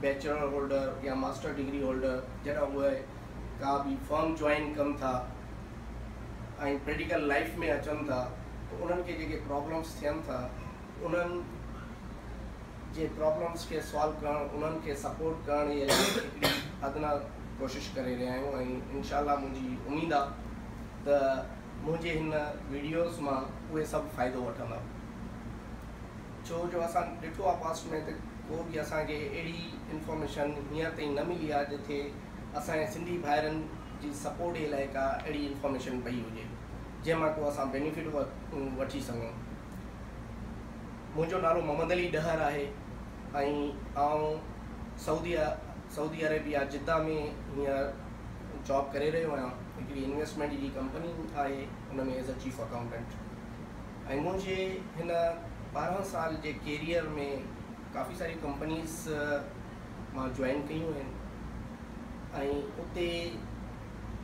Bachelor holder يا master degree holder جڏهن اهي ڪا به فرم جوائن ڪن ٿا ۽ پريڪٽيڪل لائيف ۾ اچن ٿا ته انهن کي جيڪي پرابلمس ٿين ٿا انهن جي پرابلمس کي سالو ڪرڻ انهن کي سپورٽ ڪرڻ هي هڪڙي ادنيٰ ڪوشش ڪري رهيا آهيون ۽ انشاء الله منهنجي اميد آهي ته منهنجي هن ويڊيوز مان اهي سڀ فائدو وٺندا ڇو جو اسان ڏٺو آهي پاسٽ ۾ ته پوء به اسان کي اهڙي انفارميشن هينئر تائين نه ملي آهي جتي اسان جي سنڌي ڀائرن جي سپورٽ جي لاء ڪا اهڙي انفارميشن پئي هجي جنهن مان ڪو اسان بينيفٽ وٺي سگهون. منهنجو نالو محمد علي ڏهر آهي ۽ آئون سعودي سعودي عربيا جده ۾ هينئر جاب ڪري رهيو آهيان هڪڙي انويسٽمينٽ جي ڪمپني آهي ان ۾ ايز اي چيف اڪائونٽنٽ. ۽ منهنجي هن ٻارهن سال جي ڪيريئر ۾ ڪافي ساريون ڪمپنيز مان جوائن ڪيون آهن ۽ اتي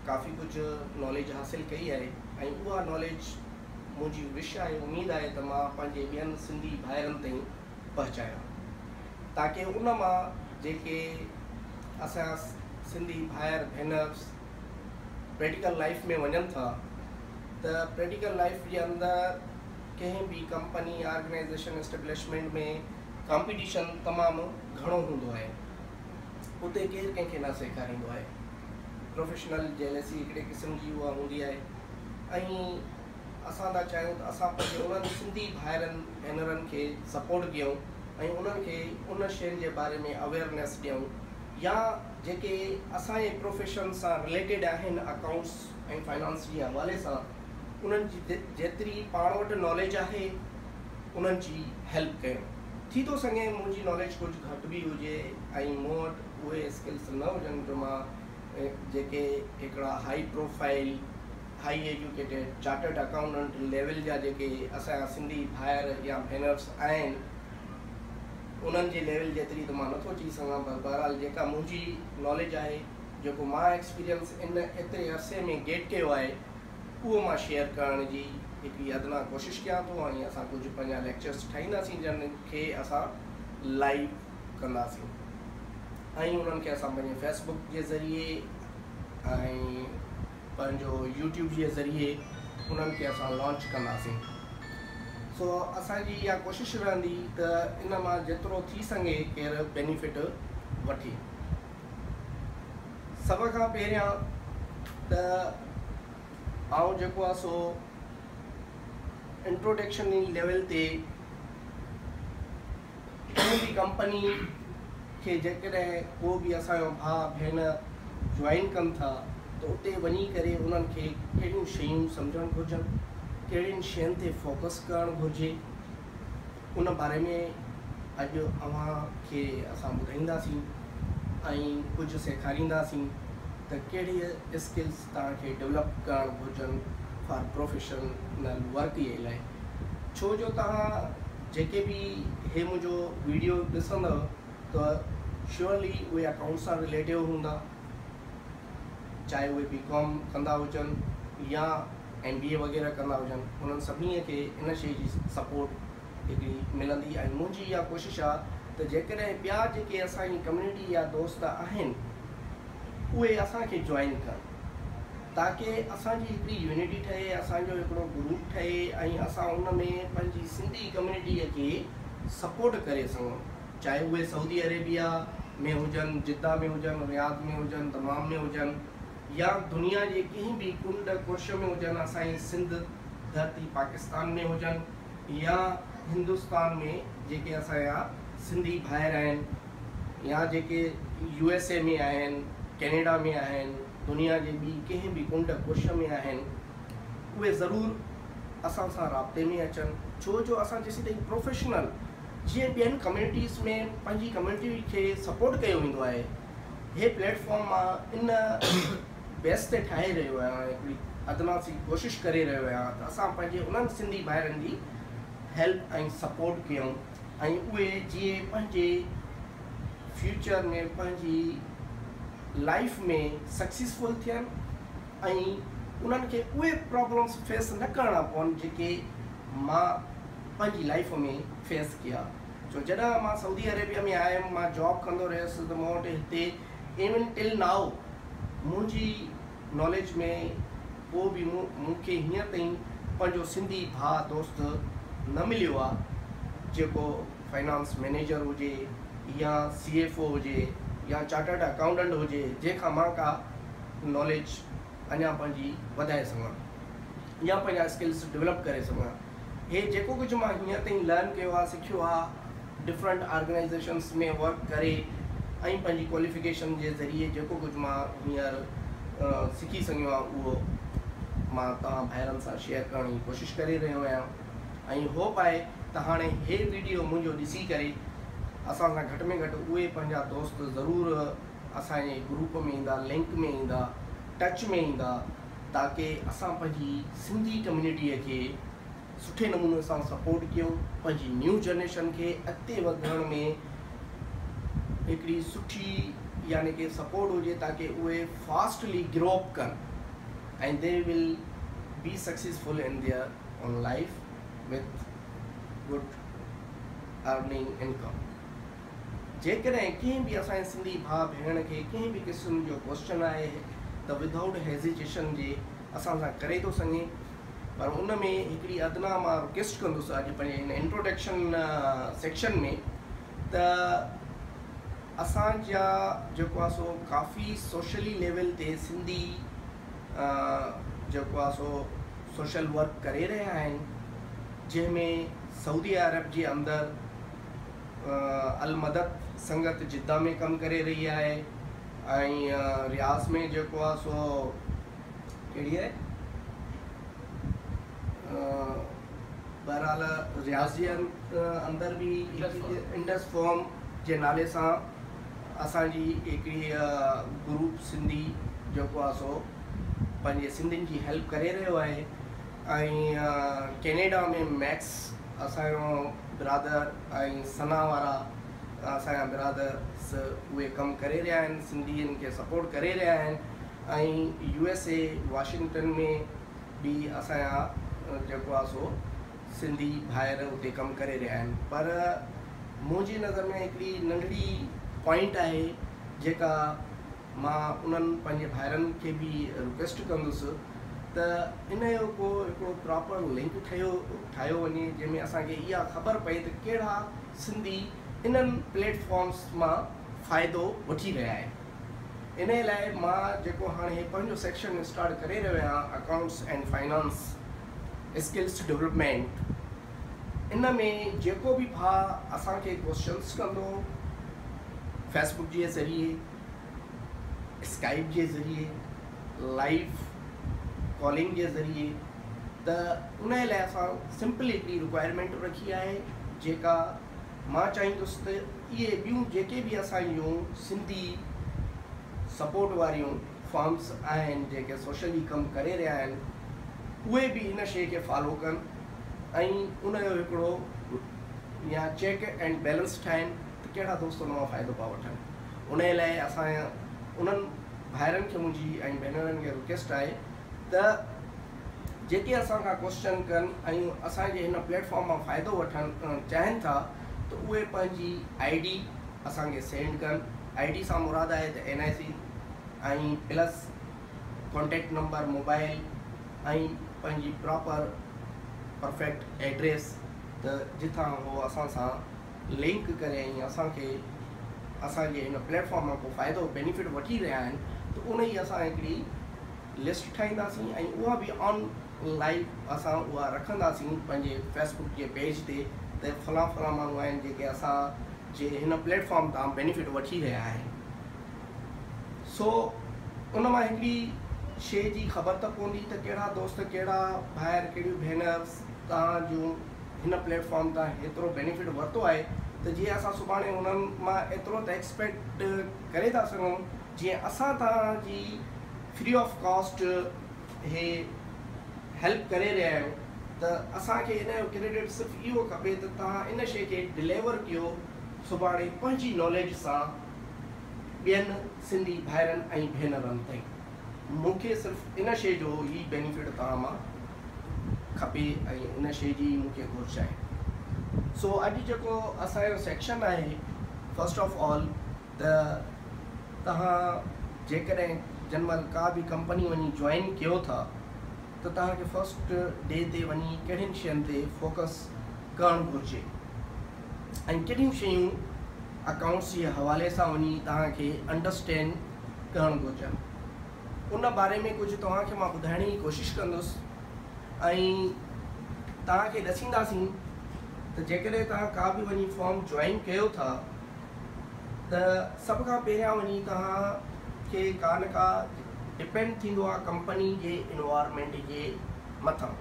ڪافي ڪجهه ناليج حاصل ڪئي آهي ۽ اها ناليج منهنجي وش آهي اميد آهي ته مان پنهنجي ٻين سنڌي ڀائرن تائين پهچايان تاڪه ان مان جيڪي اسان سنڌي ڀائر ڀينرس پريڪٽيڪل لائيف ۾ وڃن ٿا ته پريڪٽيڪل لائيف جي اندر ڪنهن به ڪمپني آرگنائزيشن اسٽيبلشمنٽ ۾ ڪمپيٽيشن تمام گهڻو هوندو آهي اتي ڪير ڪنهن کي نه سيکاريندو آهي پروفيشنل جيلسي هڪڙي قسم جي اها هوندي آهي ۽ اسان ٿا چاهيون ته اسان پنهنجي انهن سنڌي ڀائرن ڀينرن کي سپورٽ ڏيون ۽ انهن کي ان شين جي باري ۾ اويئرنيس ڏيون يا جيڪي اسان جي پروفيشن سان رليٽيڊ آهن اڪائونٽس ۽ فنانس جي حوالي سان انهن جي جيتري پاڻ وٽ ناليج آهي انهن جي هيلپ ڪيون ٿي ٿو سگهي منهنجي ناليج ڪجهه گهٽ به هجي ۽ مون وٽ اهي اسڪلس نه هجن جو مان جيڪي هڪڙا high profile high educated chartered accountant level جا جيڪي اسان جا سنڌي ڀائر يا ڀينرس آهن. انهن جي ليول جيتري ته مان نٿو چئي سگهان پر بهرحال جيڪا منهنجي ناليج آهي جيڪو مان ايڪسپيرينس ان ايتري عرصي ۾ گيٽ ڪيو آهي اهو مان شيئر ڪرڻ جي هڪڙي ادنيٰ ڪوشش ڪيان ٿو ۽ اسان ڪجهه پنهنجا ليڪچرس ٺاهينداسين جن کي اسان لائيو ڪنداسين ۽ انهن کي اسان پنهنجي فيسبڪ جي ذريعي ۽ پنهنجو يوٽيوب جي ذريعي انهن کي اسان لانچ ڪنداسين سو اسان جي اها ڪوشش رهندي ته ان مان جيترو ٿي سگهي ڪير بينيفٽ وٺي سڀ کان پهريان ته آئون جيڪو آ سو انٽروڊڪشن ليول تي ڪنهن به ڪمپني کي جيڪڏهن ڪو به اسان جو ڀاء ڀين جوائن ڪن ٿا ته اتي وڃي ڪري انهن کي ڪهڙيون شيون سمجهڻ گهرجن، ڪهڙين شين تي فوڪس ڪرڻ گهرجي ان باري ۾ اڄ اوهان کي اسان ٻڌائينداسين ۽ ڪجهه سيکارينداسين ته ڪهڙي اسڪلز توهان کي ڊولپ ڪرڻ گهرجن for professional work A L I ڇو جو توهان جيڪي به هي منهنجو ويڊيو ڏسندؤ ته شيورلي اهي اڪائونٽ سان رليٽيو هوندا چاهي اهي بي ڪام ڪندا هجن يا ايم بي اي وغيره ڪندا هجن انهن سڀني کي ان شي جي سپورٽ هڪڙي ملندي ۽ منهنجي اها ڪوشش آهي ته جيڪڏهن ٻيا جيڪي اسان جي ڪميونٽي يا دوست آهن اهي اسان کي جوائن ڪن تاڪه اسان جي هڪڙي يونٽي ٺهي اسان جو هڪڙو گروپ ٺهي ۽ اسان ان ۾ پنهنجي سنڌي ڪميونٽي کي سپورٽ ڪري سگهون چاهي اهي سعودي عربيا ۾ هجن جده ۾ هجن رياض ۾ هجن دمام ۾ هجن يا دنيا جي ڪنهن به ڪنڊ ڪرش ۾ هجن اسان جي سنڌ ڌرتي پاڪستان ۾ هجن. يا هندستان ۾ جيڪي اسان جا سنڌي ڀائر آهن يا جيڪي يو ايس اي ۾ آهن ڪينيڊا ۾ آهن دنيا جي ٻي ڪنهن به ڪنڊ ڪوش ۾ آهن اهي ضرور اسان سان رابطي ۾ اچن ڇو جو اسان جيسين تائين پروفيشنل جيئن ٻين ڪميونٽيز ۾ پنهنجي ڪميونٽي کي سپورٽ ڪيو ويندو آهي هي پليٽ فارم مان ان بيس تي ٺاهي رهيو آهيان ۽ هڪڙي ادنيٰ سي ڪوشش ڪري رهيو آهيان ته اسان پنهنجي انهن سنڌي ڀائرن جي هيلپ ۽ سپورٽ ڪيون ۽ اهي جيئي پنهنجي فيوچر ۾ پنهنجي لائيف ۾ سڪسيسفل ٿين ۽ انهن کي اهي پرابلمس فيس نه ڪرڻا پون جيڪي مان پنهنجي لائيف ۾ فيس ڪيا ڇو جڏهن مان سعودي عربيه ۾ آيم مان جاب ڪندو رهيس ته مون وٽ هتي ايون ٽل نائو منهنجي ناليج ۾ ڪو به مون کي هينئر تائين پنهنجو سنڌي ڀاء دوست نه مليو آ جيڪو فنانس مئنيجر هجي يا سي ايف او هجي يا چارٽرڊ اڪائونٽنٽ هجي جنهن کان مان ڪا ناليج اڃان پنهنجي وڌائي سگهان يا پنهنجا اسڪلس ڊولپ ڪري سگهان. هي جيڪو ڪجهه مان هينئر تائين لرن ڪيو آهي، سکيو آهي، ڊفرنٽ آرگنائيزيشنس ۾ ورڪ ڪري ۽ پنهنجي ڪواليفڪيشن جي ذريعي جيڪو ڪجهه مان هينئر سکي سگهيو آهيان اهو مان توهان ڀائرن سان شيئر ڪرڻ جي ڪوشش ڪري رهيو آهيان ۽ هوپ آهي ته هاڻي هي ويڊيو منهنجو ڏسي ڪري اسان سان گهٽ ۾ گهٽ اهي پنهنجا دوست ضرور اسان جي گروپ ۾ ايندا، لنڪ ۾ ايندا، ٽچ ۾ ايندا. تاڪه اسان پنهنجي سنڌي ڪميونٽيء کي سٺي نموني سان سپورٽ ڪيون پنهنجي نيو جنريشن کي اڳتي وڌڻ ۾ هڪڙي سٺي يعني ڪي سپورٽ هجي تاڪه اهي فاسٽلي گرو اپ ڪن ۽ they will be successful in their own life with good earning income. جيڪڏهن ڪنهن به اسان جي سنڌي ڀاء ڀيڻ کي ڪنهن به قسم جو ڪوسچن آهي ته ودائوٽ هيزيٽيشن جي اسان سان ڪري ٿو سگهي پر ان ۾ هڪڙي ادنيٰ مان رڪويسٽ ڪندس اڄ پنهنجي هن انٽروڊڪشن سيڪشن ۾ ته اسان جا جيڪو آهي سو ڪافي سوشلي ليول تي سنڌي جيڪو آهي سو سوشل ورڪ ڪري رهيا آهن جنهن ۾ سعودي عرب جي اندر المدد سنگت جده ۾ ڪم ڪري رهي آهي ۽ رياض ۾ جيڪو آهي سو ڪهڙي آهي بهرحال رياض جي اندر به انڊس فارم جي نالي سان اسان جي هڪڙي گروپ سنڌي جيڪو آهي سو پنهنجي سنڌين جي هيلپ ڪري رهيو آهي ۽ ڪينيڊا ۾ ميڪس اسان جو برادر ۽ ثنا وارا اسان جا برادر س اهي ڪم ڪري رهيا آهن سنڌين کي سپورٽ ڪري رهيا آهن ۽ يو ايس اي واشنگٽن ۾ به اسان جا جيڪو آهي سو سنڌي ڀائر اتي ڪم ڪري رهيا آهن پر منهنجي نظر ۾ هڪڙي ننڍڙي پوائنٽ آهي جيڪا مان انهن پنهنجي ڀائرن کي به رڪويسٽ ڪندس ته ان جو ڪو هڪڙو پراپر لنڪ ٺهيو ٺاهيو وڃي جنهن ۾ اسان کي اها خبر پئي ته ڪهڙا سنڌي انهن پليٽ فارمس مان فائدو وٺي رهيا آهن انهي لاء مان جيڪو هاڻي هي پنهنجو سيڪشن اسٽارٽ ڪري رهيو آهيان accounts and finance skills development ان ۾ جيڪو به ڀاء اسان کي ڪوسچنس ڪندو فيسبڪ جي ذريعي اسڪائپ جي ذريعي لائيو ڪالنگ جي ذريعي ته ان لاء اسان سمپل هڪڙي رڪوائرمينٽ رکي آهي جيڪا مان چاهيندس ته اهي ٻيون جيڪي به اسان جون سنڌي سپورٽ واريون فارمس آهن جيڪي سوشلي ڪم ڪري رهيا آهن اهي به ان شيء کي فالو ڪن ۽ ان جو هڪڙو يا چيڪ اينڊ بيلنس ٺاهن ته ڪهڙا دوست ان مان فائدو پيا وٺن انهي لاء اسان انهن ڀائرن کي منهنجي ۽ ڀينرن کي رڪيسٽ آهي ته جيڪي اسان کان ڪوسچن ڪن ۽ اسان جي هن پليٽ فارم مان فائدو وٺڻ چاهين ٿا ته اهي پنهنجي آئي ڊي اسان کي سينڊ ڪن آئي ڊي سان مراد آهي ته N I C ۽ plus contact number mobile ۽ پنهنجي پراپر پرفيڪٽ ايڊريس ته جتان هو اسان سان لنڪ ڪري ۽ اسان کي اسان جي هن پليٽ فارم مان ڪو فائدو بينيفٽ وٺي رهيا آهن ته ان جي اسان هڪڙي لسٽ ٺاهينداسين ۽ اها به آن لائيو اسان اها رکنداسين پنهنجي فيس بڪ جي پيج تي ته فلان فلان ماڻهو آهن جيڪي اسان جي هن پليٽ فارم تان بينيفٽ وٺي رهيا آهن سو ان مان هڪڙي شيء جي خبر ته پوندي ته ڪهڙا دوست ڪهڙا ڀائر ڪهڙيون ڀينر توهان جو هن پليٽ فارم تان هيترو بينيفٽ ورتو آهي ته جيئن اسان سڀاڻي انهن مان ايترو ته ايڪسپيڪٽ ڪري ٿا سگهون جيئن اسان توهان جي فري آف ڪاسٽ هي هيلپ ڪري رهيا آهيون ته اسان کي ان جو ڪريڊٽ صرف اهو کپي ته توهان ان شي کي ڊليور ڪيو سڀاڻي پنهنجي ناليج سان ٻين سنڌي ڀائرن ۽ ڀينرن تائين. مون کي صرف ان شيء جو ئي بينيفٽ توهان مان کپي ۽ ان شيء جي ئي مون کي گهرج آهي. سو اڄ جيڪو اسان جو سيڪشن آهي فرسٽ آف آل ته توهان جيڪڏهن جن مهل ڪا به ڪمپني وڃي جوائن ڪيو ٿا ته توهان کي فرسٽ ڊي تي وڃي ڪهڙين شين تي فوڪس ڪرڻ گهرجي ۽ ڪهڙيون شيون اڪائونٽس جي حوالي سان وڃي توهان کي انڊرسٽينڊ ڪرڻ گهرجن ان باري ۾ ڪجهه توهان کي مان ٻڌائڻ جي ڪوشش ڪندس ۽ توهان کي ڏسينداسين ته جيڪڏهن توهان ڪا به وڃي فارم جوائن ڪيو ٿا ته سڀ کان پهريان وڃي توهان کي ڪا نه ڪا ڊپينڊ ٿيندو آهي ڪمپني جي انوائرمينٽ جي مٿان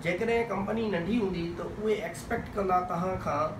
جيڪڏهن ڪمپني ننڍي هوندي ته اهي ايڪسپيڪٽ ڪندا توهان کان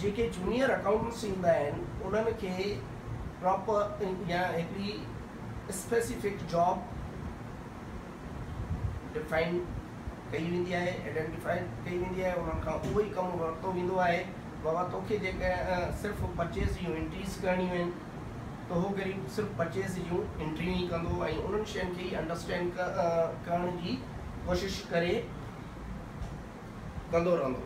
جيڪي جونيئر اڪائونٽنٽس ايندا آهن انهن کي پراپر يا هڪڙي اسپيسيفڪ جاب ڊفائن ڪئي ويندي آهي ائڊينٽيفائي ڪئي ويندي آهي انهن کان اهو ئي ڪم ورتو ويندو آهي بابا توکي جيڪا صرف پرچيز جون انٽريز ڪرڻيون آهن ته اهو غريب صرف پرچيز جون انٽريون ئي ڪندو ۽ انهن شين کي ئي انڊرسٽينڊ ڪرڻ جي ڪوشش ڪري ڪندو رهندو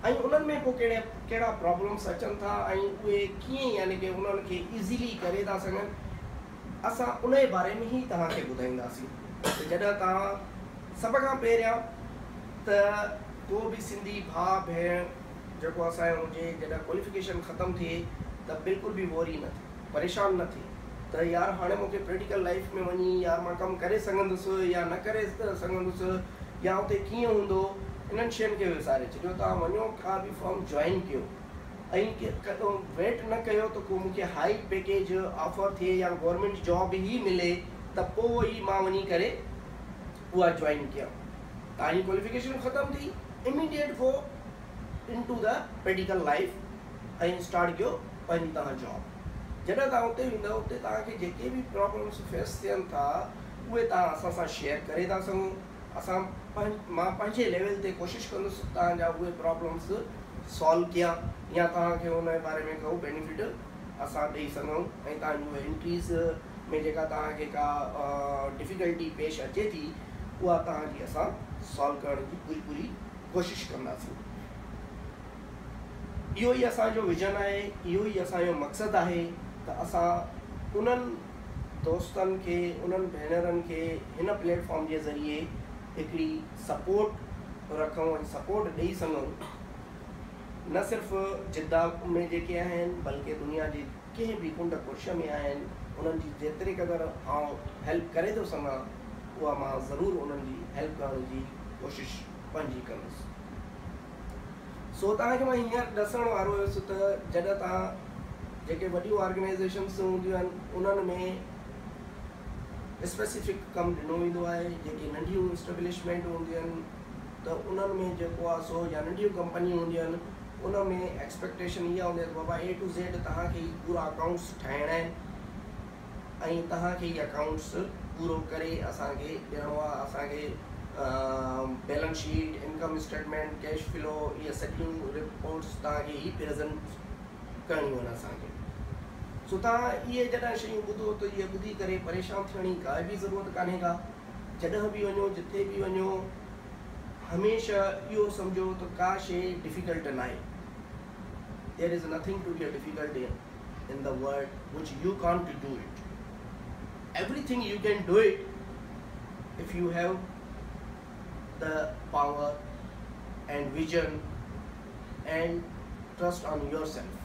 ۽ انهن ۾ پوء ڪهڙي ڪهڙا پرابلمس اچن ٿا ۽ اهي ڪيئن يعني ڪه انهن کي ايزلي ڪري ٿا سگهن اسان انهي باري ۾ هي توهان کي ٻڌائينداسين ته جڏهن توهان سڀ کان پهريان ته ڪو به سنڌي ڀاء ڀيڻ جيڪو اسان جو هجي جڏهن ڪواليفڪيشن ختم ٿئي ته بلڪل به ووري نه ٿئي. پريشان نه ٿي ته يار هاڻي مون کي پريٽيڪل لائيف ۾ وڃي يار مان ڪم ڪري سگهندس يا نه ڪري سگهندس يا اتي ڪيئن هوندو انهن شين کي وساري ڇڏيو توهان وڃو ڪا به فرم جوائن ڪيو ۽ ويٽ نه ڪيو ته ڪو مون کي هائي پيڪيج آفر ٿئي يا گورمينٽ جاب ئي ملي ته پوء ئي مان وڃي ڪري اها جوائن ڪيان تهانجي ڪواليفڪيشن ختم ٿي immediate go into the practical life ۽ start ڪيو پنهنجي توهان جاب جڏهن توهان اتي ويندؤ اتي توهان کي جيڪي به پرابلمس فيس ٿين ٿا اهي توهان اسان سان شيئر ڪري ٿا سگهو اسان مان پنهنجي ليول تي ڪوشش ڪندس توهان جا اهي پرابلمس سالو ڪيان يا توهان کي ان جي باري ۾ ڪو بينيفٽ اسان ڏئي سگهون ۽ توهان جون انٽريز ۾ جيڪا توهان کي ڪا ڊفيڪلٽي پيش اچي ٿي اها توهان جي اسان سالو ڪرڻ جي پوري پوري ڪوشش ڪنداسين. اهو ئي اسان جو ويزن آهي، اهو ئي اسان جو مقصد آهي ته اسان انهن دوستن کي، انهن ڀينرن کي هن پليٽ فارم جي ذريعي هڪڙي سپورٽ رکون ۽ سپورٽ ڏئي سگهون نه صرف جده ۾ جيڪي آهن بلڪه دنيا جي ڪنهن به ڪنڊ ڪڙڇ ۾ آهن انهن جي جيتري قدر آئون هيلپ ڪري ٿو سگهان اها مان ضرور انهن جي هيلپ ڪرڻ جي ڪوشش پنهنجي ڪندس. سو توهان کي مان هينئر ڏسڻ وارو هيس ته جڏهن توهان جيڪي وڏيون آرگنائيزيشنس هونديون آهن انهن ۾ اسپيسيفڪ ڪم ڏنو ويندو آهي جيڪي ننڍيون اسٽبلشمينٽ هونديون آهن ته انهن ۾ جيڪو آهي سو يا ننڍيون ڪمپنيون هونديون آهن ان ۾ ايڪسپيڪٽيشن اها هوندي آهي ته بابا اي ٽو زيڊ توهان کي ئي پورا اڪائونٽس ٺاهڻا آهن. ۽ توهان کي اهي اڪائونٽس پورو ڪري اسان کي ڏيڻو آهي اسان کي balance sheet income statement cash flow اهي سڄيون رپورٽس توهان کي ئي پريزنٽ ڪرڻيون آهن اسان کي سو توهان اهي جڏهن شيون ٻڌو ته اهي ٻڌي ڪري پريشان ٿيڻ جي ڪا به ضرورت ڪانهي ڪا جڏهن به وڃو جٿي به وڃو هميشه اهو سمجهو ته ڪا شيء ڊفيڪلٽ ناهي there is nothing to be a difficult in the world which you can't to do it everything you can do it if you have the power and vision and trust on yourself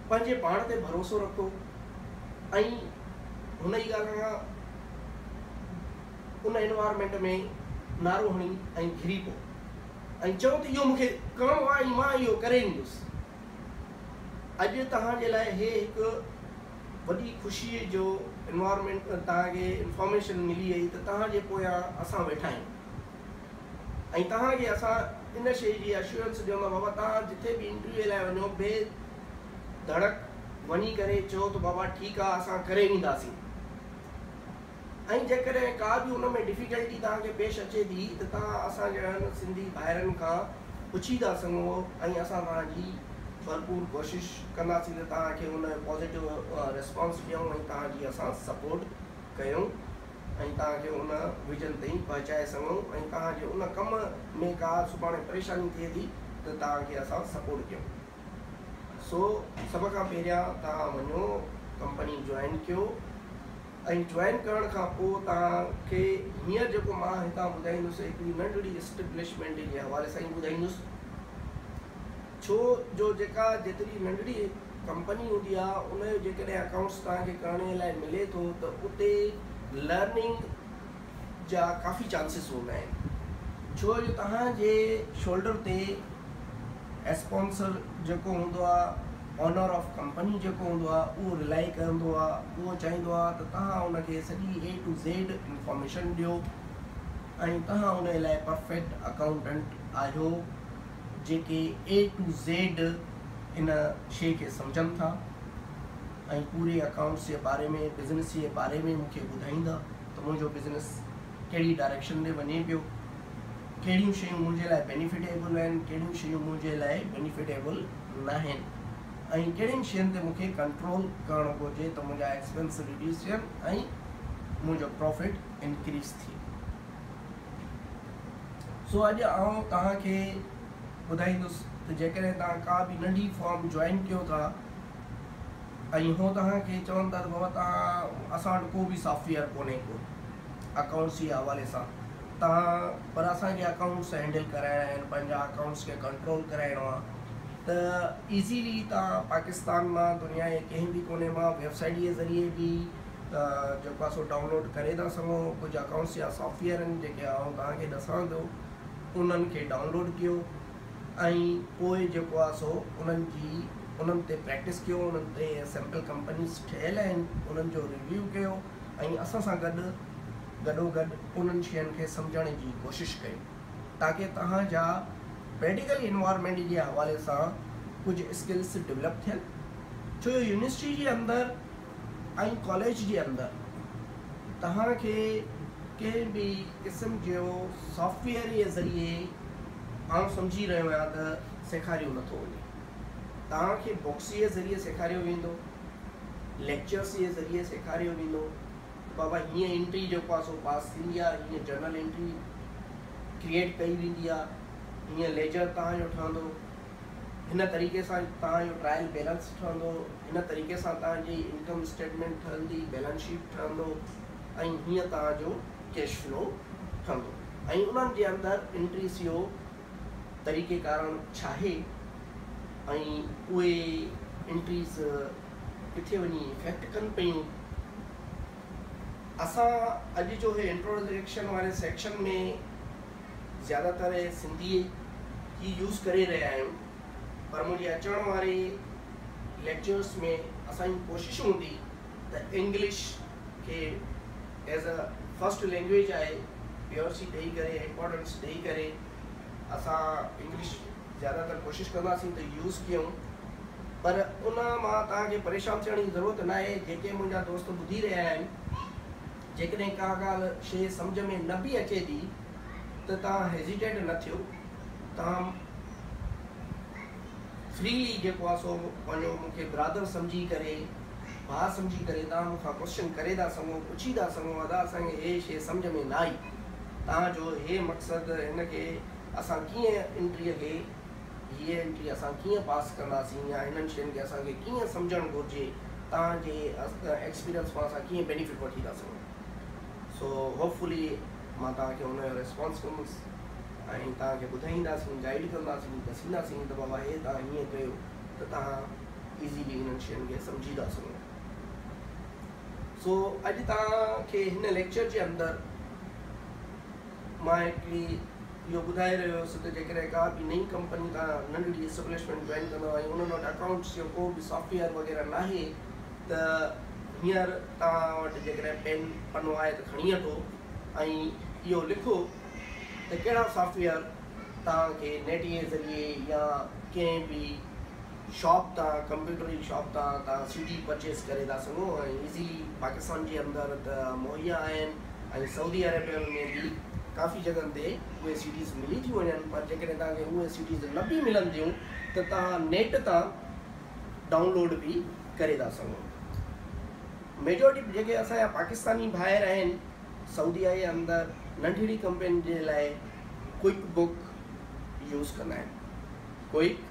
پنهنجي پاڻ تي ڀروسو رکو ۽ هن ئي ڳالهه کان ان environment ۾ نعرو هڻي ۽ گهري پو ۽ چئو ته اهو مون کي ڪرڻو آهي ۽ مان اهو ڪري ويندس اڄ توهان جي لاء هي هڪ وڏي خوشيء جو انوارمينٽ توهان کي انفارميشن ملي وئي ته توهان جي پويان اسان ويٺا آهيون ۽ توهان کي اسان ان شيء جي اشورنس ڏيون ٿا بابا توهان جتي به انٽرويو لاء وڃو بي ڌڙڪ وڃي ڪري چئو ته بابا ٺيڪ آهي اسان ڪري وينداسين ۽ جيڪڏهن ڪا به ان ۾ ڊفيڪلٽي توهان کي پيش اچي ٿي ته توهان اسان جهڙن سنڌي ڀائرن کان پڇي ٿا سگهو ۽ اسان توهان جي ڀرپور ڪوشش ڪنداسين ته توهان کي ان جو پازيٽو ريسپانس ڏيون ۽ توهان جي اسان سپورٽ ڪيون ۽ توهان کي ان ويجن تائين پهچائي سگهون ۽ توهان جي ان ڪم ۾ ڪا سڀاڻي پريشاني ٿئي ٿي ته توهان کي اسان سپورٽ ڪيون سو سڀ کان پهريان توهان وڃو ڪمپني جوائن ڪيو. ۽ جوائن ڪرڻ کان پوء توهان کي هينئر جيڪو مان هتان ٻڌائيندس سي هڪڙي ننڍڙي اسٽبلشمينٽ جي حوالي سان ئي ٻڌائيندس ڇو جو جيڪا جيتري ننڍڙي ڪمپني هوندي آهي ان جو جيڪڏهن اڪائونٽس توهان کي ڪرڻي لاء ملي ٿو ته اتي لرننگ جا ڪافي چانسز هوندا آهن ڇو جو توهان جي شولڊر تي اسپانسر جيڪو هوندو آهي اونر آف ڪمپني جيڪو هوندو آهي اهو رلائي ڪرندو آهي اهو چاهيندو آهي ته توهان ان کي سڄي اي ٽو زيڊ انفارميشن ڏيو ۽ توهان انهي لاء پرفيڪٽ اڪائونٽنٽ آهيو جيڪي اي ٽو زيڊ ان شي کي سمجهن ٿا. ۽ پوري اڪائونٽس جي باري ۾ بزنس جي باري ۾ مون کي ٻڌائيندا ته منهنجو بزنس ڪهڙي ڊائريڪشن ۾ وڃي پيو ڪهڙيون شيون منهنجي لاء بينيفٽيبل آهن ڪهڙيون شيون منهنجي لاء بينيفٽيبل ناهن ۽ ڪهڙين شين تي مون کي ڪنٽرول ڪرڻو گهرجي ته منهنجا ايڪسپينس ريڊيوس ٿين ۽ منهنجو پرافٽ انڪريز ٿئي سو اڄ آئون توهان کي ٻڌائيندس ته جيڪڏهن توهان ڪا به ننڍي فارم جوائن ڪيو ٿا ۽ هو توهان کي چون ٿا ته بابا توهان اسان وٽ ڪو به سافٽ ويئر ڪونهي ڪو اڪائونٽس جي حوالي سان توهان پر اسان کي اڪائونٽس هينڊل ڪرائڻا آهن پنهنجا اڪائونٽس کي ڪنٽرول ڪرائڻو آهي ته ايزيلي توهان پاڪستان مان دنيا جي ڪنهن به ڪوني مان ويب سائيٽ جي ذريعي به جيڪو آهي سو ڊائونلوڊ ڪري ٿا سگهو ڪجهه اڪائونٽس يا سافٽ ويئر آهن جيڪي آئون توهان کي ڏسان ٿو انهن کي ڊائونلوڊ ڪيو ۽ پوء جيڪو آ سو انهن جي انهن تي پريڪٽس ڪيو انهن تي سيمپل ڪمپنيز ٺهيل آهن انهن جو ريويو ڪيو ۽ اسان سان گڏ گڏو گڏ انهن شين کي سمجهڻ جي ڪوشش ڪئي تاڪه توهان جا پريڪٽيڪل انوارمينٽ جي حوالي سان ڪجهه اسڪلس ڊولپ ٿين ڇو جو يونيورسٽي جي اندر ۽ ڪاليج جي اندر توهان کي ڪنهن به قسم جو سافٽويئر جي ذريعي آئون سمجهي رهيو آهيان ته سيکاريو نٿو وڃي. توهان کي بڪس جي ذريعي سيکاريو ويندو، ليڪچرس جي ذريعي سيکاريو ويندو ته بابا هيئن انٽري جيڪو آهي سو پاس ٿيندي آهي، هيئن جرنل انٽري ڪريئيٽ ڪئي ويندي آهي، هيئن ليجر توهان جو ٺهندو، هن طريقي سان توهان جو ٽرائل بيلنس ٺهندو، هن طريقي سان توهان جي انڪم اسٽيٽمينٽ ٺهندي، بيلنس شيٽ ٺهندو ۽ هيئن توهان جو ڪيش فلو ٺهندو ۽ انهن جي اندر انٽري سيو طريقي ڪارڻ ڇاهي ۽ اهي انٽريز ڪٿي وڃي افيڪٽ ڪن پيون اسان اڄ جو هي انٽروڊڪشن واري سيڪشن ۾ زياده تر سنڌي ئي يوز ڪري رهيا آهيون پر منهنجي اچڻ واري ليڪچرس ۾ اسان جي ڪوشش هوندي ته انگلش کي ايز اي فرسٽ لينگويج آهي پيورسي ڏئي ڪري امپورٽنس ڏئي ڪري اسان انگلش زياده تر ڪوشش ڪنداسين ته يوز ڪيون پر ان مان توهان کي پريشان ٿيڻ جي ضرورت نه آهي جيڪي منهنجا دوست ٻڌي رهيا آهن جيڪڏهن ڪا ڳالهه شيء سمجهه ۾ نه به اچي ٿي ته توهان هيزيٽيٽ نه ٿيو توهان فريلي جيڪو آهي سو پنهنجو مون کي برادر سمجهي ڪري ڀاء سمجهي ڪري توهان مون کان ڪوسچن ڪري ٿا سگهون، پڇي ٿا سگهون ادا اسان کي هي شي سمجهه ۾ نه آئي توهان جو هي مقصد هن کي اسان ڪيئن انٽري کي هيء انٽري اسان ڪيئن پاس ڪنداسين يا هنن شين کي اسان کي ڪيئن سمجهڻ گهرجي توهان جي ايڪسپيرينس مان اسان ڪيئن بينيفٽ وٺي ٿا سگهون سو هوپ فلي مان توهان کي ان جو ريسپانس ڪندس ۽ توهان کي ٻڌائينداسين گائيڊ ڪنداسين ڏسينداسين ته بابا هي توهان هيئن ڪيو ته توهان ايزي به انهن شين کي سمجهي ٿا سگهو. سو اڄ توهان کي هن ليڪچر جي اندر مان هڪڙي اهو ٻڌائي رهيو هيس ته جيڪڏهن ڪا به نئي ڪمپني توهان ننڍڙي اسٽبلشمينٽ جوائن ڪندو ۽ انهن وٽ اڪائونٽس جو ڪو به سافٽ ويئر وغيره ناهي ته هينئر توهان وٽ جيڪڏهن پين پنو آهي ته کڻي اٺو ۽ اهو لکو ته ڪهڙا سافٽ ويئر توهان کي نيٽ اي ذريعي يا ڪنهن به شاپ تان ڪمپيوٽر جي شاپ تان توهان سي ڊي پرچيز ڪري ٿا سگهو ۽ ايزلي پاڪستان جي اندر ته مهيا آهن ۽ سعودي عربين ۾ به ڪافي جڳهن تي اهي سي ڊيز ملي ٿيون وڃن پر جيڪڏهن توهان کي اهي سي ڊيز نه به ملن ٿيون ته توهان نيٽ تان ڊائون لوڊ به ڪري ٿا سگهو ميجورٽي جيڪي اسان جا پاڪستاني ڀائر آهن سعودي جي اندر ننڍڙي ڪمپنين جي لاء ڪوئڪ بوڪ يوز ڪندا آهن ڪوئڪ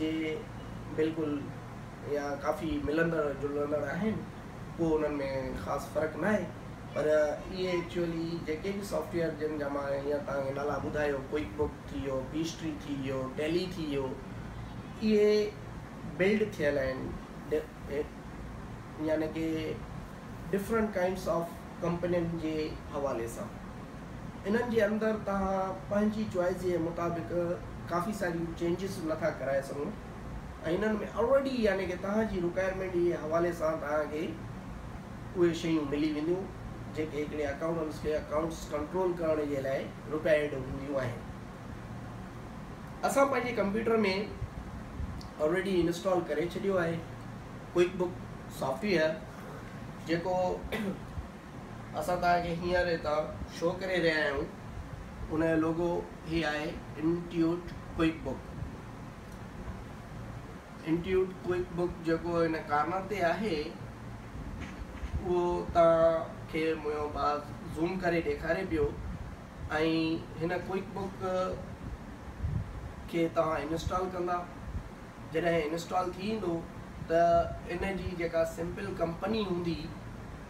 جي بلڪل يا ڪافي ملندڙ جلندڙ آهن ڪو انهن ۾ خاص فرق ناهي پر اهي ايڪچوئلي جيڪي به سافٽ ويئر جن جا مان هينئر توهان کي نالا ٻڌايو ڪوئڪ بوڪ ٿي ويو پيچ ٽري ٿي ويو ٽيلي ٿي ويو اهي بلڊ ٿيل آهن يعني ڪي ڊفرنٽ ڪائنڊس آف ڪمپنين جي حوالي سان انهن جي اندر توهان پنهنجي چوائس جي مطابق ڪافي ساريون چينجز نٿا ڪرائي سگهو ۽ انهن ۾ آلريڊي يعني ڪه توهان جي رڪوائرمينٽ جي حوالي سان توهان کي اهي شيون ملي وينديون جيڪي هڪڙي اڪائونٽنس کي اڪائونٽس ڪنٽرول ڪرڻ جي لاء رڪوائرڊ هونديون آهن. اسان پنهنجي ڪمپيوٽر ۾ آلريڊي انسٽال ڪري ڇڏيو آهي ڪوئڪ بڪ سافٽويئر جيڪو اسان توهان کي هينئر هتان شو ڪري رهيا آهيون ان جو لوگو هي آهي Intuit quick book Intuit quick book جيڪو هن ڪارنر تي آهي اهو توهان کي منهنجو ڀاء زوم ڪري ڏيکاري پيو ۽ هن ڪوئڪ بوڪ کي توهان انسٽال ڪندا جڏهن انسٽال ٿي ويندو ته ان جي جيڪا سمپل ڪمپني هوندي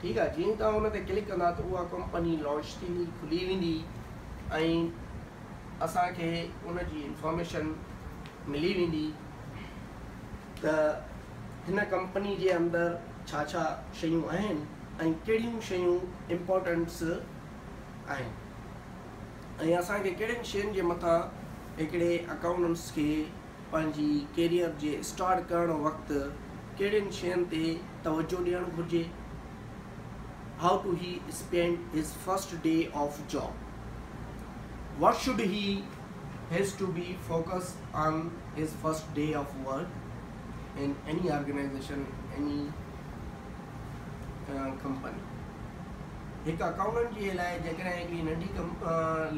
ٺيڪ آهي جيئن ئي توهان ان تي ڪلڪ ڪندا ته اها ڪمپني لانچ ٿيندي کلي ويندي ۽ اسان کي ان جي انفارميشن ملي ويندي ته هن ڪمپني جي اندر ڇا ڇا شيون آهن ۽ ڪهڙيون شيون امپورٽنٽس آهن ۽ اسان کي ڪهڙين شين جي مٿان هڪڙي اڪائوننس کي پنهنجي ڪيريئر جي اسٽارٽ ڪرڻ وقت ڪهڙين شين تي توجهه ڏيڻ گهرجي؟ How to he spend his first day of job? What should he has to be focus on his first day of work in any organisation any company? هڪ اڪائونٽنٽ جي لاء جيڪڏهن هڪڙي ننڍي ڪم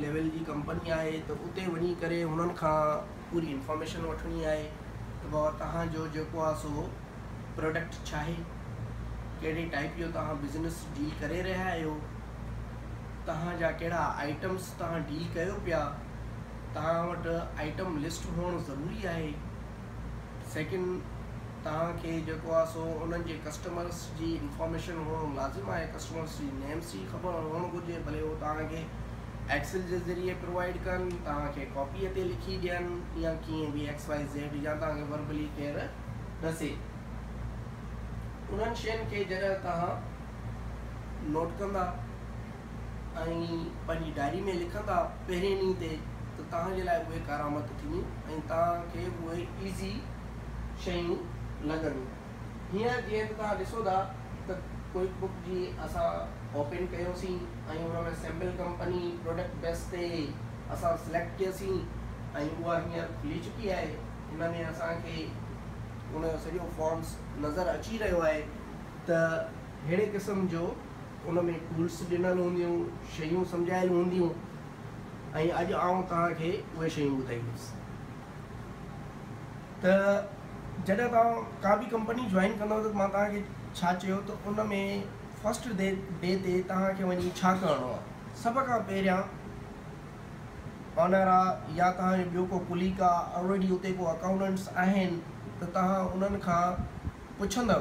ليول جي ڪمپني آهي ته اتي وڃي ڪري هنن کان پوري انفارميشن وٺڻي آهي ته بابا تهان جو جيڪو آهي سو پروڊڪٽ ڇا آهي ڪهڙي ٽائيپ جو تهان بزنس ڊيل ڪري رهيا آهيو تهان جا ڪهڙا آئٽمس تهان ڊيل ڪيو پيا تهان وٽ آئٽم لسٽ هئڻ ضروري آهي سيڪنڊ تهان کي جيڪو آهي سو انهن جي ڪسٽمرس جي انفارميشن هئڻ لازم آهي ڪسٽمرس جي نيمس جي خبر هئڻ گهرجي ڀلي هو تهان کي ايڪسل جي ذريعي پرووائيڊ ڪن، توهان کي ڪاپيء تي لکي ڏين يا ڪيئن به ايڪس وائي زيڊ يا توهان کي وربلي ڪير ڏسي. انهن شين کي جڏهن توهان نوٽ ڪندا ۽ پنهنجي ڊائري ۾ لکندا پهرين ڏينهن تي ته توهان جي لاء اهي ڪارآمد ٿينديون ۽ توهان کي اهي ايزي شيون لڳنديون. هينئر جيئن ته توهان ڏسو ٿا ته ڪوئڪ بڪ جي اسان اوپن ڪيوسين ۽ ان ۾ سيمپل ڪمپني پروڊڪٽ بيس تي اسان سليڪٽ ڪيسين ۽ اها هينئر کلي چڪي آهي ان ۾ اسان کي ان جو سڄو فونٽس نظر اچي رهيو آهي ته ههڙي قسم جو ان ۾ ٽولس ڏنل هونديون شيون سمجهايل هونديون ۽ اڄ آئون توهان کي اهي شيون ٻڌائيندس. ته جڏهن توهان ڪا به ڪمپني جوائن ڪندو ته مان توهان کي ڇا چيو ته ان ۾ فسٽ ڊي ڊي تي توهان کي وڃي ڇا ڪرڻو آهي سڀ کان پهريان اونر آهي يا توهان جو ٻيو ڪو ڪليگ آهي آلريڊي اتي ڪو اڪائونٽنٽس آهن ته توهان انهن کان پڇندو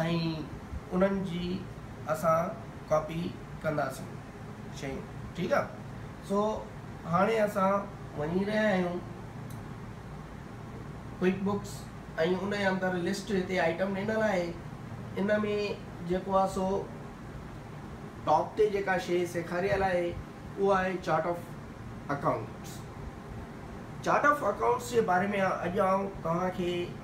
۽ انهن جي اسان ڪاپي ڪنداسين شيون ٺيڪ آ سو هاڻي اسان وڃي رهيا آهيون ڪوئڪ بڪس ۽ ان جي اندر لسٽ هتي آئٽم ڏنل آهي ان ۾ جيڪو آ سو ٽاپ تي جيڪا شي سيکاريل آهي اها آهي chart of accounts chart of accounts جي باري ۾ اڄ آئون توهان کي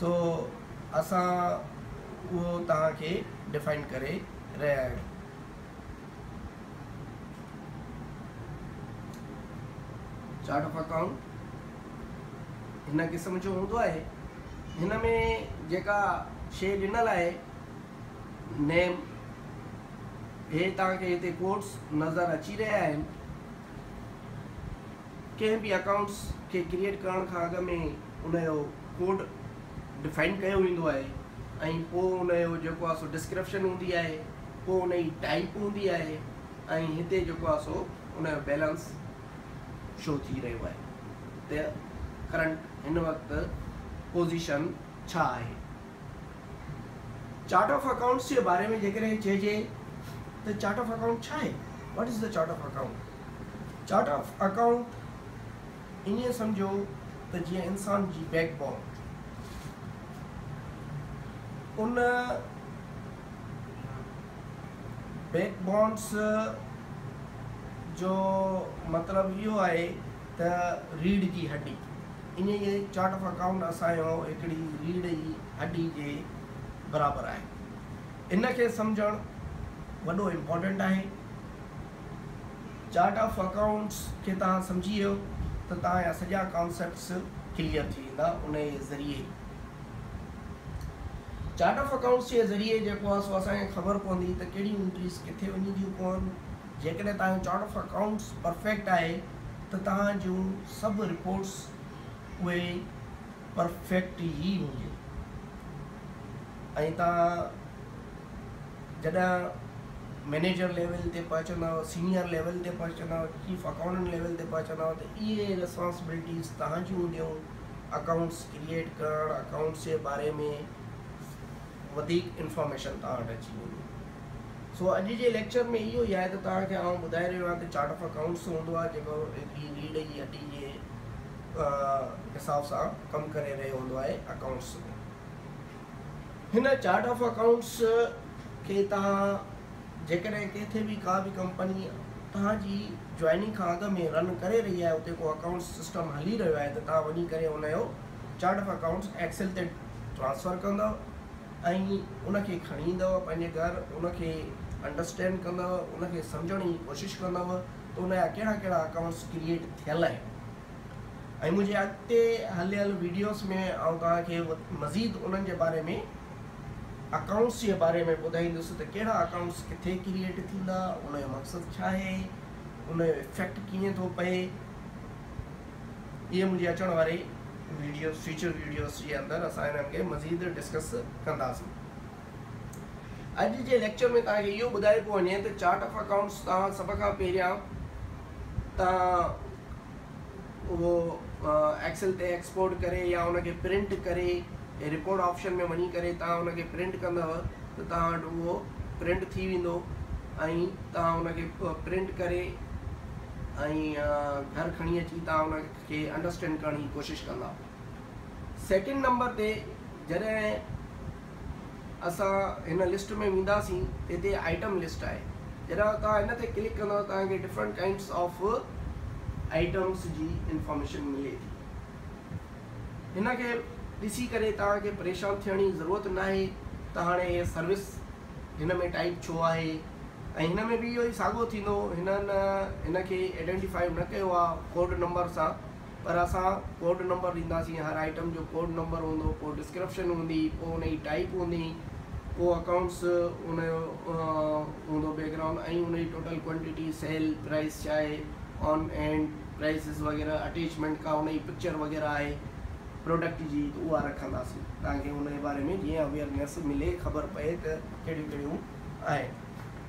سو اسان اهو توهان کي ڊفائن ڪري رهيا آهيون. چارٽ آف اڪائونٽ هن قسم جو هوندو آهي هن ۾ جيڪا شيء ڏنل آهي نيم هي توهان کي هتي ڪوٽس نظر اچي رهيا آهن. ڪنهن به اڪائونٽس کي ڪريئيٽ ڪرڻ کان اڳ ۾ ان جو ڪوڊ ڊفائن ڪيو ويندو آهي ۽ پوء ان جو جيڪو آهي سو ڊسڪرپشن هوندي آهي پوء ان جي ٽائيپ هوندي آهي ۽ هتي جيڪو آهي سو ان جو بيلنس شو ٿي رهيو آهي ته ڪرنٽ هن وقت پوزيشن ڇا آهي چارٽ آف اڪائونٽس جي باري ۾ جيڪڏهن چئجي ته چارٽ آف اڪائونٽ ڇا آهي what is the chart of account chart of account ائين سمجهو ته جيئن انسان جي بيڪ بون ان بيڪ بونس جو مطلب اهو آهي ته ریڙھ جي هڏي ان جي چارٽ آف اڪائونٽ اسانجو هڪڙي ریڙھ جي هڏي جي برابر آهي ان کي سمجهڻ وڏو امپورٽنٽ آهي چارٽ آف اڪائونٽس کي توهان سمجهي ويو ته توهان جا سڄا ڪانسيپٽس ڪليئر ٿي ويندا انهي ذريعي چارٽ آف اڪائونٽس جي ذريعي جيڪو آهي سو اسان کي خبر پوندي ته ڪهڙيون انٽريز ڪٿي وڃي ٿيون پون جيڪڏهن توهان جو چارٽ آف اڪائونٽس پرفيڪٽ آهي ته توهان جون سڀ رپورٽس اهي پرفيڪٽ ئي هونديون. ۽ تان جڏهن مئنيجر ليول تي پهچندا آهيو سينئر ليول تي پهچندا آهيو چيف اڪائونٽنٽ ليول تي پهچندا آهيو ته اهي رسپانسبلٽيز تان جون هونديون اڪائونٽس ڪريئيٽ ڪرڻ اڪائونٽس جي باري ۾ وڌيڪ انفارميشن تان وٽ اچي ويندي سو اڄ جي ليڪچر ۾ اهو ئي آهي ته تان کي آئون ٻڌائي رهيو آهيان ته چارٽ آف اڪائونٽس هوندو آهي جيڪو هڪڙي ریڙ جي هڏي جي حساب سان ڪم ڪري رهيو هوندو آهي اڪائونٽس ۾ هن چارٽ آف اڪائونٽس کي توهان جيڪڏهن ڪٿي به ڪا به ڪمپني توهان جي جوائننگ کان اڳ ۾ رن ڪري رهي آهي اتي ڪو اڪائونٽس سسٽم هلي رهيو آهي ته توهان وڃي ڪري ان جو چارٽ آف اڪائونٽس ايڪسل تي ٽرانسفر ڪندو ۽ ان کي کڻي ايندو پنهنجي گهر ان کي انڊرسٽينڊ ڪندو ان کي سمجھڻ جي ڪوشش ڪندو ته ان جا ڪهڙا ڪهڙا اڪائونٽس ڪريئيٽ ٿيل آهن ۽ منهنجي اڳتي هليل ويڊيوز ۾ آئون توهان کي مزيد انهن جي باري ۾ اڪائونٽس جي باري ۾ ٻڌائيندس ته ڪهڙا اڪائونٽس ڪٿي ڪريئيٽ ٿيندا ان جو مقصد ڇا آهي ان جو افيڪٽ ڪيئن ٿو پئي اهي منهنجي اچڻ واري ويڊيوز فيوچر ويڊيوز جي اندر اسان انهن کي مزيد ڊسڪس ڪنداسين اڄ جي ليڪچر ۾ توهان کي اهو ٻڌايو پيو وڃي ته چارٽ آف اڪائونٽس توهان سڀ کان پهريان توهان اهو ايڪسل تي ايڪسپورٽ ڪري يا ان کي پرنٽ ڪري رپورٽ آپشن ۾ وڃي ڪري توهان ان کي پرنٽ ڪندو ته توهان وٽ اهو پرنٽ ٿي ويندو ۽ توهان ان کي پرنٽ ڪري ۽ گهر کڻي اچي توهان ان کي انڊرسٽينڈ ڪرڻ جي ڪوشش ڪندا سيڪنڊ نمبر تي جڏهن اسان هن لسٽ ۾ وينداسين هتي آئٽم لسٽ آهي جڏهن توهان هن تي ڪلڪ ڪندو توهان کي ڊفرنٽ ڪائنڊس آف آئٽمس جي انفارميشن ملي ٿي هن کي ڏسي ڪري توهان کي پريشان ٿيڻ جي ضرورت نه آهي ته هاڻي هي سروس هن ۾ ٽائپ ڇو آهي ۽ هن ۾ به اهو ئي ساڳو ٿيندو هنن هن کي آئيڊينٽيفائي نه ڪيو آهي ڪوڊ نمبر سان پر اسان ڪوڊ نمبر ڏينداسين هر آئٽم جو ڪوڊ نمبر هوندو پوء ڊسڪرپشن هوندي پوء ان جي ٽائيپ هوندي پوء اڪائونٽس ان جو هوندو بيڪ گرائونڊ ۽ ان جي ٽوٽل ڪوانٽيٽي سيل پرائس ڇا آهي آن هينڊ پرائسز وغيره اٽيچمينٽ ڪا ان جي پڪچر وغيره آهي پروڊڪٽ جي ته اها رکنداسين تان ڪي ان جي باري ۾ جيئن اويئرنيس ملي خبر پئي ته ڪهڙيون ڪهڙيون آهن.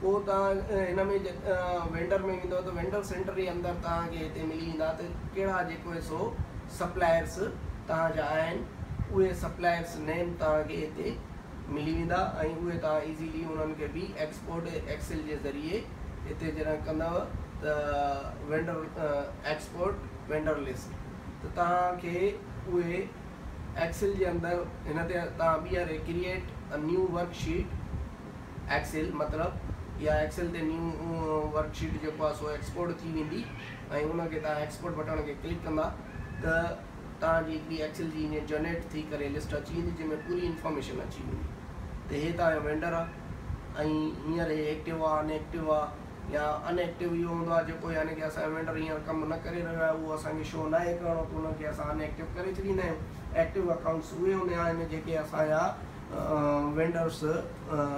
پوء توهان هن ۾ وينڊر ۾ ويندو ته وينڊر سينٽر جي اندر توهان کي هتي ملي ويندا ته ڪهڙا جيڪو هي سو سپلائرس توهان جا آهن اهي سپلائرس نيم توهان کي هتي ملي ويندا ۽ اهي توهان ايزيلي انهن کي به ايڪسپورٽ ايڪسل جي ذريعي هتي جڏهن ڪندؤ ته وينڊر ايڪسپورٽ وينڊر لسٽ ته توهان کي اهي ايڪسل جي اندر هن تي توهان ٻيهر create a new worksheet Excel مطلب اها ايڪسل تي نيو ورڪ شيٽ جيڪو آهي سو ايڪسپورٽ ٿي ويندي ۽ ان کي تان ايڪسپورٽ بٽڻ کي ڪلڪ ڪندا ته تان جي هڪڙي ايڪسل جي ايئن جنريٽ ٿي ڪري لسٽ اچي ويندي جنهن ۾ پوري انفارميشن اچي ويندي ته هي تان جو وينڊر آهي ۽ هينئر هي ايڪٽو آهي ان ايڪٽو آهي يا ان ايڪٽو اهو هوندو آهي جيڪو يعني ڪي اسان جو وينڊر هينئر ڪم نه ڪري رهيو آهي اهو اسان کي شو نه آهي ڪرڻو ته ان کي اسان ان ايڪٽو ڪري ڇڏيندا آهيون ايڪٽو اڪائونٽس اهي هوندا آهن جيڪي اسان جا وينڊرس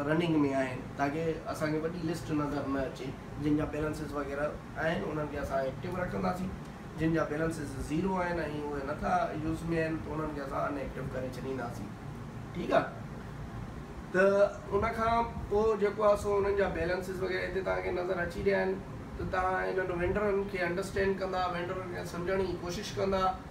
رننگ ۾ آهن تاڪي اسان کي وڏي لسٽ نظر نه اچي جن جا بيلنسز وغيره آهن انهن کي اسان ايڪٽو رکنداسين جن جا بيلنسز زيرو آهن ۽ اهي نٿا يوز ۾ آهن ته انهن کي اسان ان ايڪٽو ڪري ڇڏينداسين ٺيڪ آهي ته ان کان پوء جيڪو آهي سو انهن جا بيلنسز وغيره هتي توهان کي نظر اچي رهيا آهن ته توهان انهن وينڊرن کي انڊرسٽينڊ ڪندا وينڊرن کي سمجهڻ جي ڪوشش ڪندا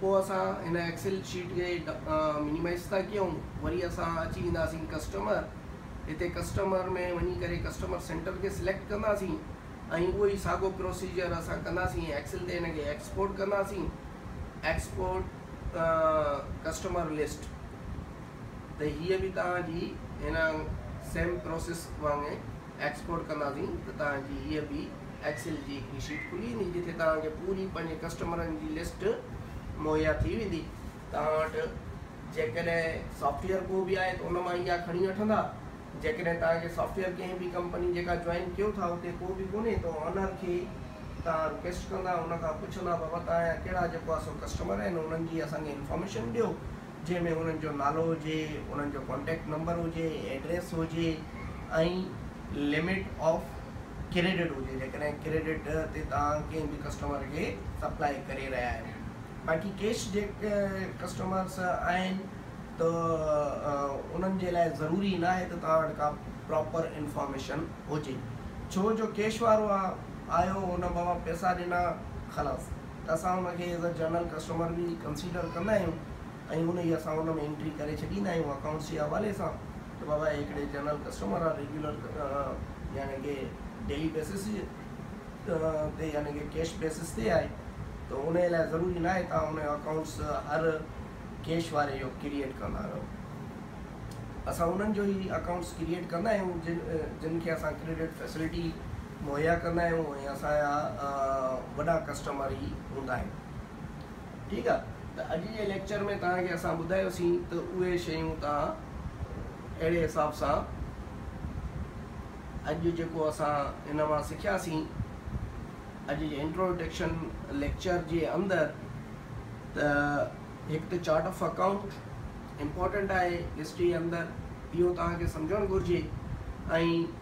پوء اسان هن ايڪسل شيٽ کي مينيمائيز ٿا ڪيون وري اسان اچي وينداسين ڪسٽمر هتي ڪسٽمر ۾ وڃي ڪري ڪسٽمر سينٽر کي سليڪٽ ڪنداسين ۽ اهو ئي ساڳو پروسيجر اسان ڪنداسين ايڪسل تي هن کي ايڪسپورٽ ڪنداسين ايڪسپورٽ ڪسٽمر لسٽ ته هيء به توهان جي هن سيم پروسيس وانگي ايڪسپورٽ ڪنداسين ته توهان جي هيء بي ايڪسل جي هڪڙي شيٽ کلي ويندي جتي توهان کي پوري پنهنجي ڪسٽمرن جي لسٽ مهيا ٿي ويندي توهان وٽ جيڪڏهن سافٽويئر ڪو به آهي ته ان مان اها کڻي وٺندا جيڪڏهن توهان کي سافٽويئر ڪنهن به ڪمپني جيڪا جوائن ڪيو ٿا اتي ڪو به ڪونهي ته اونر کي توهان رڪويسٽ ڪندا ان کان پڇندا بابا توهان جا ڪهڙا جيڪو آهي سو ڪسٽمر آهن انهن جي اسان کي انفارميشن ڏيو جنهن ۾ انهن جو نالو هجي، انهن جو ڪانٽيڪٽ نمبر هجي، ايڊريس هجي ۽ لمٽ آف ڪريڊٽ هجي جيڪڏهن ڪريڊٽ تي توهان ڪنهن به ڪسٽمر کي سپلاء ڪري رهيا آهيو. باقي ڪيش جيڪي ڪسٽمرس آهن ته انهن جي لاء ضروري ناهي ته توهان وٽ ڪا پراپر انفارميشن هجي ڇو جو ڪيش وارو آيو هن اوهان پئسا ڏنا خلاص. ته اسان ان کي ايز اي جنرل ڪسٽمر به ڪنسيڊر ڪندا آهيون ۽ هونئن ئي اسان ان ۾ انٽري ڪري ڇڏيندا آهيون اڪائونٽس جي حوالي سان ته بابا هي هڪڙي جنرل ڪسٽمر آهي ريگيولر يعني ڪي ڊيلي بيسس جي تي يعني ڪي ڪيش بيسس تي آهي ته ان لاء ضروري ناهي تان ان جو اڪائونٽس هر ڪيش واري جو ڪريئيٽ ڪندا رهو اسان انهن جو ئي اڪائونٽس ڪريئيٽ ڪندا آهيون جن جن کي اسان ڪريڊٽ فيسلٽي مهيا ڪندا آهيون ۽ اسان جا وڏا ڪسٽمر ئي هوندا آهن ٺيڪ آ ته اڄ جي ليڪچر ۾ توهان کي اسان ٻڌايوسين ته اهي شيون توهان اهڙي حساب سان اڄ جيڪو اسان ان مان سکياسين اڄ جي انٽروڊڪشن ليڪچر جي اندر ته هڪ ته چارٽ آف اڪائونٽ امپورٽنٽ آهي هسٽري اندر اهو توهان کي سمجهڻ گهرجي ۽